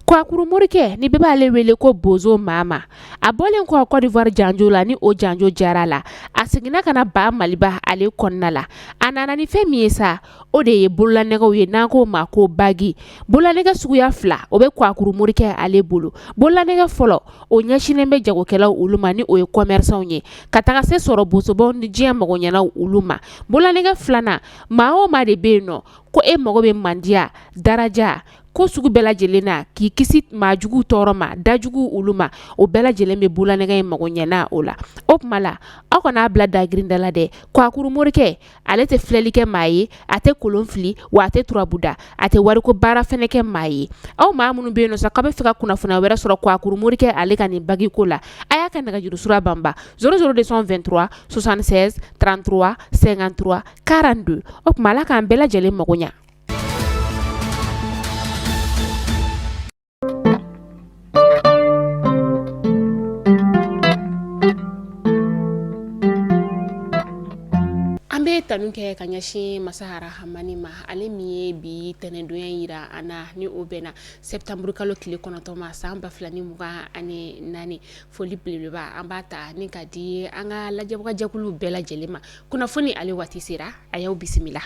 Kwakuru morikɛ ni bɛɛ b'ale wele ko bozo mama a bɔlen kɔ kɔdiwari janjo la ni o janjo jara la a seginna ka na ba maliba ale kɔnɔna la a nana ni fɛn min ye sa o de ye bolola nɛgɛ ye n'an k'o ma ko bagi bolola nɛgɛ suguya fila o bɛ kwakuru morikɛ ale bolo bolola nɛgɛ fɔlɔ o ɲɛsinnen bɛ jagokɛlaw olu ma ni o ye kɔmɛrisanw ye ka taga se sɔrɔ bosobaw ni diɲɛ mago ɲɛna olu ma bolola nɛgɛ filanan maa o maa de bɛ yen nɔ ko e mago bɛ mandiya daraja ko sugu bɛɛ lajɛlen na k'i kisi maa jugu tɔɔrɔ ma da jugu olu ma o bɛɛ lajɛlen bɛ bolola nɛgɛ in mago ɲɛna o la o tuma la aw kan'a bila dagirin da la dɛ kwakuru morikɛ ale tɛ filɛli kɛ maa ye a tɛ kolon fili wa a tɛ turabu da a tɛ wari ko baara fɛnɛ kɛ maa ye aw maa minnu bɛ yen nɔ sa aw bɛ fɛ ka kunnafoni wɛrɛ sɔrɔ kwakuru morikɛ ale ka nin bagi ko la a y'a ka nɛgɛjurusira banba zéro zéro deux cent vingt-trois soixante-seize trente-trois cinquante-trois quarante-deux o tuma ala k'an bɛɛ lajɛlen mago ɲɛ An bɛ tanu kɛ ka ɲɛsin masa arahamani ma ale min ye bi tɛnɛndonya yira an na ni o bɛnna septembre kalo tile kɔnɔntɔn ma san 2024 foli belebeleba an b'a ta ni k'a di an ka lajɛbagajɛkulu bɛɛ lajɛlen ma kunnafoni ale waati sera a y'aw bisimila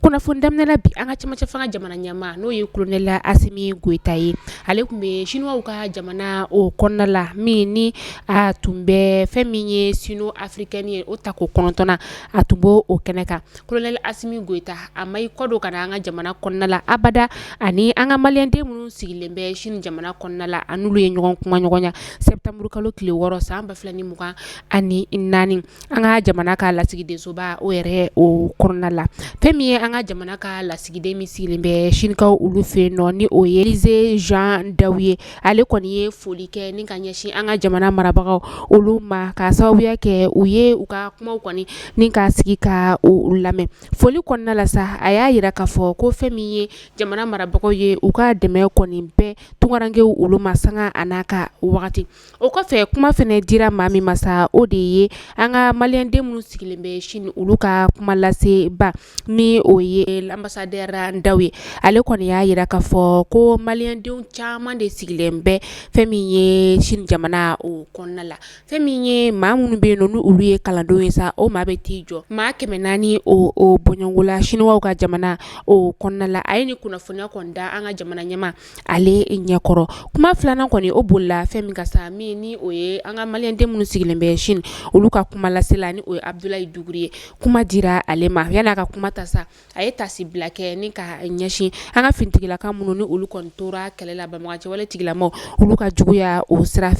kunnafoni daminɛ bi an ka camancɛ fanga jamana ɲɛmaa n'o ye kolonɛli asimi goita ye ale tun bɛ siniwaw ka jamana o kɔnɔna la min ni a tun bɛ fɛn min ye sino afirikɛni ye o tako kɔnɔntɔnnan a tun bɛ o kɛnɛ kan kolonɛli asimi goita a ma i kɔ don ka na an ka jamana kɔnɔna la abada ani an ka maliyɛnden minnu sigilen bɛ sini jamana kɔnɔna la a n'olu ye ɲɔgɔn kumaɲɔgɔnya sɛtanburu kalo tile wɔɔrɔ san ba fila ni mugan ani naani an ka jamana ka lasigidensoba o yɛrɛ o kɔnɔna la fɛn min ye an ka jamana ka lasigiden min sigilen bɛ sinika olu fɛ nɔ ni o ye elize zan dawo ye ale kɔni ye foli kɛ ni ka ɲɛsin an ka jamana marabagaw olu ma k'a sababuya kɛ u ye u ka kumaw kɔni ni ka sigi k'u lamɛn foli kɔnɔna la sa a y'a yira k'a fɔ ko fɛn min ye jamana marabagaw ye u ka dɛmɛ kɔni bɛ tunkarankew olu ma sanga a n'a ka wagati o kɔfɛ kuma fɛnɛ dira maa min ma sa o de ye an ka maliyɛnden minnu sigilen bɛ sini olu ka kumalasebaa Ni o ye anbasadɛri dawo ye ale kɔni y'a yira k'a fɔ ko maliyɛndenw caman de sigilen bɛ fɛn min ye sini jamana o kɔnɔna la fɛn min ye maa minnu bɛ yen nɔ ni olu ye kalandenw ye sa o maa bɛ t'i jɔ maa kɛmɛ naani o bɔɲɔgɔnko la siniwaw ka jamana o kɔnɔna la a ye nin kunnafoniya kɔni da an ka jamana ɲɛmaa ale ɲɛkɔrɔ kuma filanan kɔni o bolila fɛn min kan sa min ni o ye an ka maliyɛnden minnu sigilen bɛ sini olu ka kuma lasela ni o ye abudulayi dukure ye kuma dira ale ma yani a ka kuma ta sa a ye taasibila kɛ ni ka ɲɛsin an ka finitigilaka minnu ni olu kɔni tora kɛlɛ la banbagancɛwale tigilamaw olu ka juguya o sira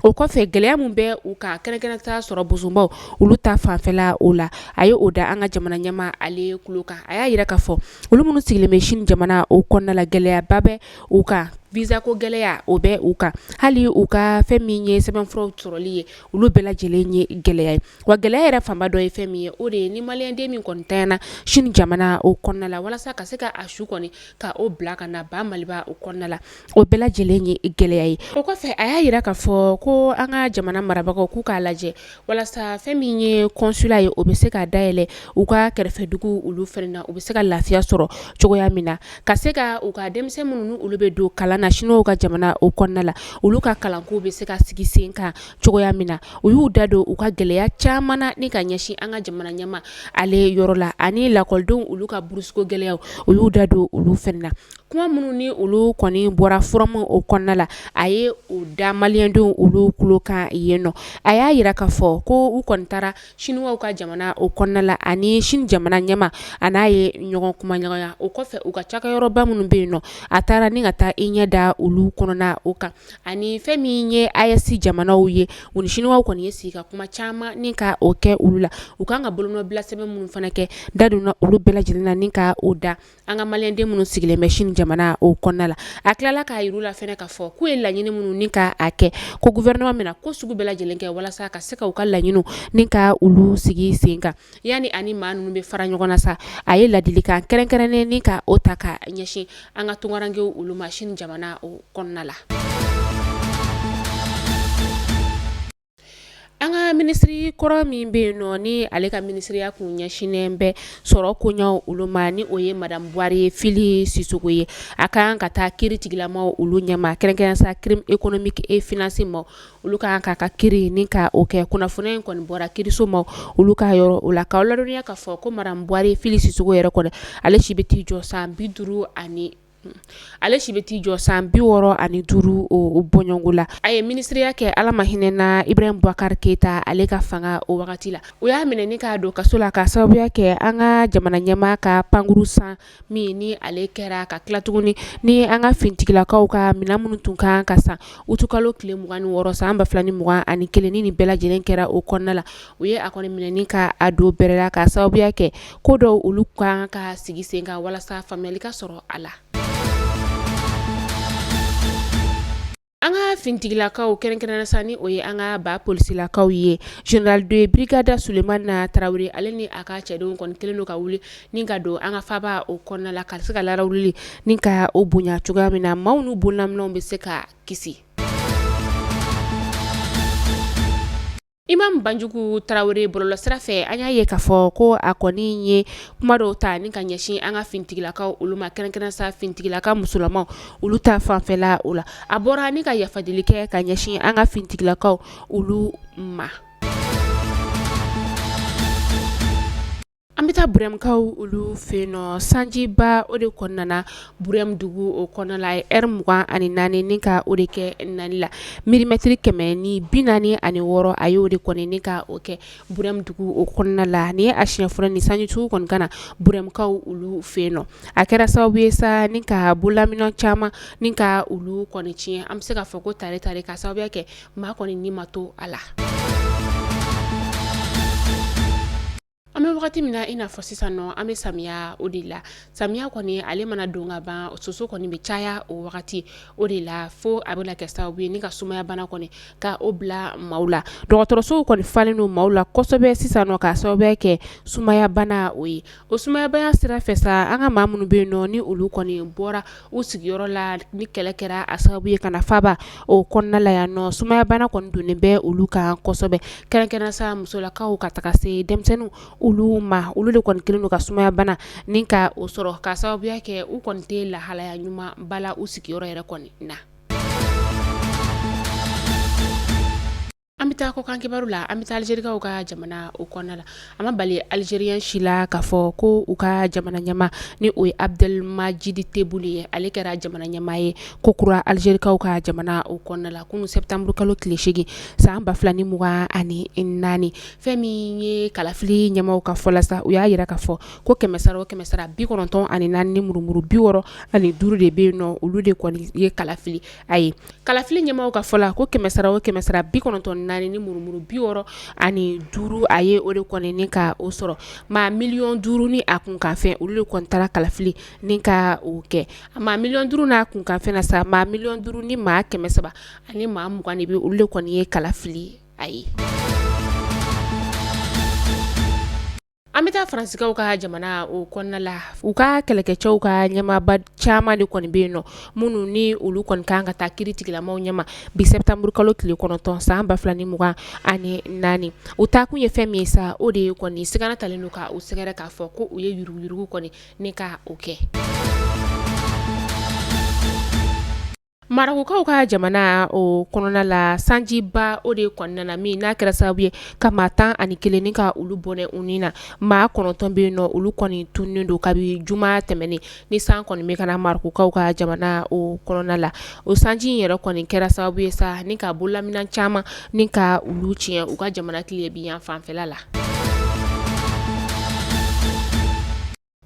O kɔfɛ gɛlɛya min bɛ u kan kɛrɛnkɛrɛn ta sɔrɔ bosobaw olu ta fanfɛla o la a ye o da an ka jamana ɲɛmaa ale kulo kan a y'a yira k'a fɔ olu minnu sigilen bɛ sini jamana o kɔnɔna la gɛlɛyaba bɛ u kan visa ko gɛlɛya o bɛ u kan hali u ka fɛn min ye sɛbɛnfuraw sɔrɔli ye olu bɛɛ lajɛlen ye gɛlɛya ye wa gɛlɛya yɛrɛ fanba dɔ ye fɛn min ye o de ye ni maliyɛnden min kɔni tanyana sini jamana o kɔnɔna la walasa ka se ka a su kɔni ka o bila ka na ba maliba o kɔnɔna la O bɛɛ lajɛlen ye gɛlɛya ye o kɔfɛ a y'a yira k'a fɔ ko an ka jamana marabagaw k'u k'a lajɛ walasa fɛn min ye consulat ye o bɛ se ka dayɛlɛ u ka kɛrɛfɛdugu olu fɛnɛ na u bɛ se ka lafiya sɔrɔ cogoya min na ka se ka u ka denmisɛn minnu ni olu bɛ don kalan na siniw ka jamana o kɔnɔna la olu ka kalanko bɛ se ka sigi sen kan cogoya min na u y'u da don u ka gɛlɛya caman na ni ka ɲɛsin an ka jamana ɲɛmaa ale yɔrɔ la ani lakɔlidenw olu ka burusuko gɛlɛya u y'u da don olu fɛnɛ na kuma minnu ni olu kɔni bɔra forum o kɔnɔna la a ye o da maliyɛndenw olu kulo kan yen nɔ a y'a yira k'a fɔ ko u kɔni taara siniw ka jamana o kɔnɔna la ani sini jamana ɲɛmaa a n'a ye ɲɔgɔn kumaɲɔgɔnya o kɔfɛ u ka cakɛyɔrɔba minnu bɛ yen nɔ a taara ni ka taa i ɲɛ da olu kɔnɔna o kan ani fɛn min ye AES jamanaw ye u ni siniw kɔni ye sigi ka kuma caman ni ka o kɛ olu la u kan ka bolonɔbila sɛbɛn minnu fana kɛ da donna olu bɛɛ lajɛlen na ni ka o da An ka maliyɛnden minnu sigilen bɛ sini jamana o kɔnɔna la a tilala k'a yir'u la fɛnɛ k'a fɔ k'u ye laɲini minnu ni k'a kɛ ko gouvernement bɛna ko sugu bɛɛ lajɛlen kɛ walasa ka se ka u ka laɲiniw ni ka olu sigi sen kan yani a ni maa ninnu bɛ fara ɲɔgɔn na sa a ye laadilikan kɛrɛnkɛrɛnnen ni ka o ta ka ɲɛsin an ka tunkarankew olu ma sini jamana o kɔnɔna la An ka minisiri kɔrɔ min bɛ yen nɔ ni ale ka minisiriya tun ɲɛsinnen bɛ sɔrɔ koɲɛw olu ma ni o ye madamu buware fili sisoko ye a ka kan ka taa kiiritigilamaw olu ɲɛma kɛrɛnkɛrɛn sa crime économique et financier ma olu ka kan ka a kiiri ni ka o kɛ kunnafoniya in kɔni bɔra kiirisomaw olu ka yɔrɔ o la k'aw ladɔnniya k'a fɔ ko madamu buware fili sisoko yɛrɛ kɔni ale si bɛ t'i jɔ san bi duuru ani ale si bɛ t'i jɔ san bi wɔɔrɔ ani duuru o bɔɲɔnko la a ye minisiriya kɛ ala ma hinɛ na ibrahim bubakari keyita ale ka fanga o wagati la u y'a minɛ ni k'a don kaso la k'a sababuya kɛ an ka jamana ɲɛmaa ka pankurun san min ni ale kɛra ka tila tuguni ni an ka finitigilakaw ka minɛn minnu tun kan ka san utikalo tile mugan ni wɔɔrɔ san ba fila ni mugan ani kelen ni nin bɛɛ lajɛlen kɛra o kɔnɔna la u ye a kɔni minɛ ni ka a don bɛrɛ la k'a sababuya kɛ ko dɔw olu kan ka sigi sen kan walasa faamuyali ka sɔrɔ a la an ka fintigilakaw kɛrɛnkɛrɛnnenya sa ni o ye an ka ba polisilakaw ye général de brigade sulemana tarawele ale ni a ka cɛdenw kɔni kelen don ka wuli ni ka don an ka faba o kɔnɔna la ka se ka larawuli ni ka o bonya cogoya min na maaw n'u bololaminɛnw bɛ se ka kisi Imamu banjugu tarawele bɔlɔlɔsira fɛ an y'a ye k'a fɔ ko a kɔni ye kuma dɔw ta ni ka ɲɛsin an ka fintigilakaw olu ma kɛrɛnkɛrɛnnenya sa fintigilaka musolamaw olu ta fanfɛla o la a bɔra ni ka yafa deli kɛ ka ɲɛsin an ka fintigilakaw olu ma An bɛ taa burɛmkaw olu fɛ yen nɔ sanjiba o de kɔni nana burɛm dugu o kɔnɔna la ɛri mugan ani naani ni ka o de kɛ nani la milimɛtiri kɛmɛ ni bi naani ani wɔɔrɔ a y'o de kɔni ni ka o kɛ burɛm dugu o kɔnɔna la ni ye a siyɛn fɔlɔ ye nin sanji sugu kɔni ka na burɛmkaw olu fɛ yen nɔ a kɛra sababu ye sa ni ka bololaminɛn caman ni ka olu kɔni tiɲɛ an bɛ se ka fɔ ko tare tare k'a sababuya kɛ maa kɔni ni ma to a la an bɛ wagati min na i n'a fɔ sisan nɔ an bɛ samiya o de la samiya kɔni ale mana don ka ban soso kɔni bɛ caya o wagati o de la fo a bɛ kɛ sababu ye ni ka sumayabana kɔni ka o bila maaw la dɔgɔtɔrɔsow kɔni falen don maaw la kosɛbɛ sisan nɔ k'a sababu kɛ sumayabana o ye O sumayabana sira fɛ sa an ka maa minnu bɛ yen nɔ ni olu kɔni bɔra u sigiyɔrɔ la ni kɛlɛ kɛra a sababu ye ka na faba o kɔnɔna la yan nɔ sumayabana kɔni donnen bɛ olu kan kosɛbɛ kɛrɛnkɛrɛnnenya sa musolakaw ka taga se denmisɛnninw olu ma olu de kɔni kelen don ka sumayabana ni ka o sɔrɔ ka sababuya kɛ u kɔni tɛ lahalaya ɲumanba la u sigiyɔrɔ yɛrɛ kɔni na An bɛ taa kɔkan kibaru la an bɛ taa alizerikaw ka jamana o kɔnɔna la a ma bali alizeriyɛn si la k'a fɔ ko u ka jamana ɲɛmaa ni o ye abudɛlimajidi tebuni ye ale kɛra jamana ɲɛmaa ye ko kura alizerikaw ka jamana o kɔnɔna la kunun sɛtanburu kalo tile segin san ba fila ni mugan ani naani fɛn min ye kalafili ɲɛmaaw ka fɔ la sa u y'a jira ka fɔ ko kɛmɛsara o kɛmɛsara bi kɔnɔntɔn ani naani ni murumuru bi wɔɔrɔ ani duuru de bɛ yen nɔ olu de kɔni ye kalafili a ye kalafili ɲɛmaaw ka fɔ la ko kɛmɛsara o kɛmɛsara bi kɔnɔntɔn naani ni murumuru bi wɔɔrɔ ani duuru a ye o de kɔni ni ka o sɔrɔ maa miliyɔn duuru ni a kunkanfɛn olu de kɔni taara kalafili ni ka o kɛ maa miliyɔn duuru n'a kunkanfɛn na sa maa miliyɔn duuru ni maa kɛmɛ saba ani maa mugan de bɛ olu de kɔni ye kalafili a ye An bɛ taa Faransikaw ka jamana o kɔnɔna la u ka kɛlɛkɛcɛw ka ɲɛmaaba caman de kɔni bɛ yen nɔ minnu ni olu kɔni kan ka taa kiiri tigilamɔgɔw ɲɛ ma bi sɛtanburukalo tile kɔnɔntɔn san ba fila ni mugan ani naani u taa kun ye fɛn min ye sa o de ye kɔni sigana talen don k' u sɛgɛrɛ k'a fɔ ko u ye yuruguyurugu kɔni ni k' o kɛ Marɔkukaw ka jamana o kɔnɔna la sanjiba o de kɔni nana min n'a kɛra sababu ye ka maa tan ani kelen ni ka olu bɔnɛ u ni na maa kɔnɔntɔn bɛ yen nɔ olu kɔni tununnen don kabi juma tɛmɛnen ni san kɔni bɛ ka na Marɔkukaw ka jamana o kɔnɔna la o sanji in yɛrɛ kɔni kɛra sababu ye sa ni ka bololaminɛn caman ni ka olu tiɲɛ u ka jamana tilebinyanfan fɛ la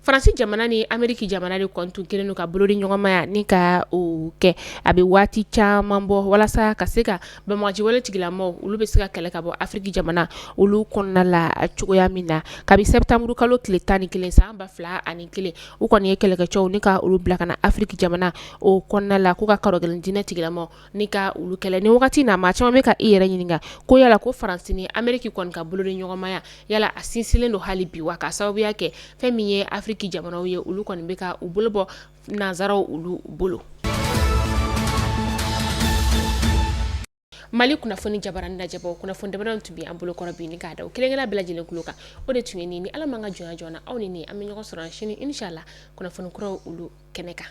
Faransi jamana ni Ameriki jamana de kɔni tun kɛlen don ka bolodiɲɔgɔnmaya ni ka o kɛ a bɛ waati caman bɔ walasa ka se ka banbaganci wale tigilamɔgɔw olu bɛ se ka kɛlɛ ka bɔ Afriki jamana olu kɔnɔna la cogoya min na kabi septembre kalo tile 11 san 2001 u kɔni ye kɛlɛkɛcɛw ni ka olu bila ka na Afriki jamana o kɔnɔna la k'u ka karɔgɛlɛn diinɛ tigilamɔgɔw ni ka olu kɛlɛ ni wagati na maa caman bɛ ka i yɛrɛ ɲininka ko yala ko Faransi ni Ameriki kɔni ka bolodiɲɔgɔnmaya yala a sinsinlen don hali bi wa k'a sababuya kɛ fɛn min ye afiriki jamanaw ye olu kɔni bɛ ka u bolo bɔ nansaraw olu bolo Mali kunnafoni jabaranin lajɛbaaw kunnafoni damadɔ tun bɛ an bolo kɔrɔ bi ni k'a da aw kelenkelenna bɛɛ lajɛlen kulo kan o de tun ye nin ni ala man ka jɔnya joona aw ni an bɛ ɲɔgɔn sɔrɔ sini inshallah kunnafoni kura olu kɛnɛ kan